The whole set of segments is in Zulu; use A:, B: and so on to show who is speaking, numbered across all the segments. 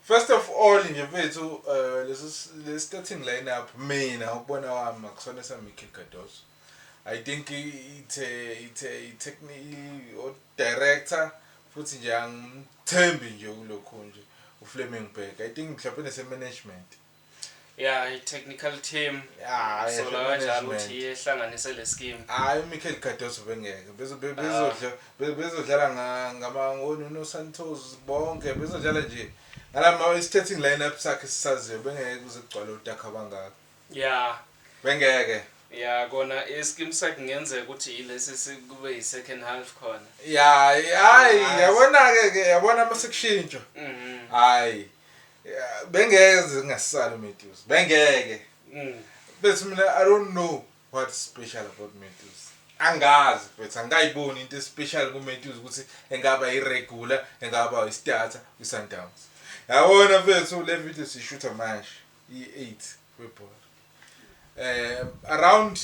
A: First of all nje mfethu uh, lesi le starting lineup mina ukubona wami akusona sa Mikel Cardoso I think ithe ithe itechnique o director futhi nje angimthembi nje kulokho nje uFleming Berg I think mhlawumbe nese management ya
B: i-technical team Ah, yeah, sola kanjalo management. ukuthi iye ihlanganise le scheme hayi umichael cardoso
A: bengeke Bezo- be- bezodla- be- bezodlala nga- ngama- ngo- no- nosantos bonke bezodlala nje ngalama i-starting lineup sakhe sisaziyo bengeke kuze kugcwale udaka abangaka ya
B: bengeke
A: ya kona
B: i-scheme sakhe kungenzeka ukuthi yilesi si- kube yi-second half khona ya hayi
A: Nice. yabona-ke ke yabona uma sekushintshwa Mhm. hayi bengeke zingasali uMedusa bengeke mm. bethi mina i don't know what special about Medusa angazi mfethu angikayiboni into especial kuMedusa ukuthi engaba iregular engaba istarter kwiSundowns yabona mfethu le video sishutha manje i-8 webhola eh around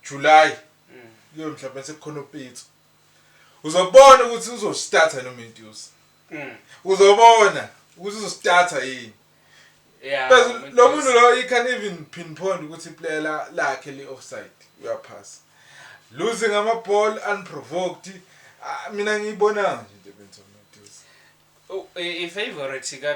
A: July mm. kuyo mhlawumbe sekukhona upitso Uzobona ukuthi uzositatha noma induce. Mm. Uzobona ukuthi uzositatha yini. Yeah.
B: Bese lo muntu
A: lo he can even pinpoint ukuthi player la lakhe li offside. Uyaphasa. Losing ama ball unprovoked. Ah, mina ngiyibona
B: nje
A: into ebenza
B: uMduze. Oh,
A: i favorite ka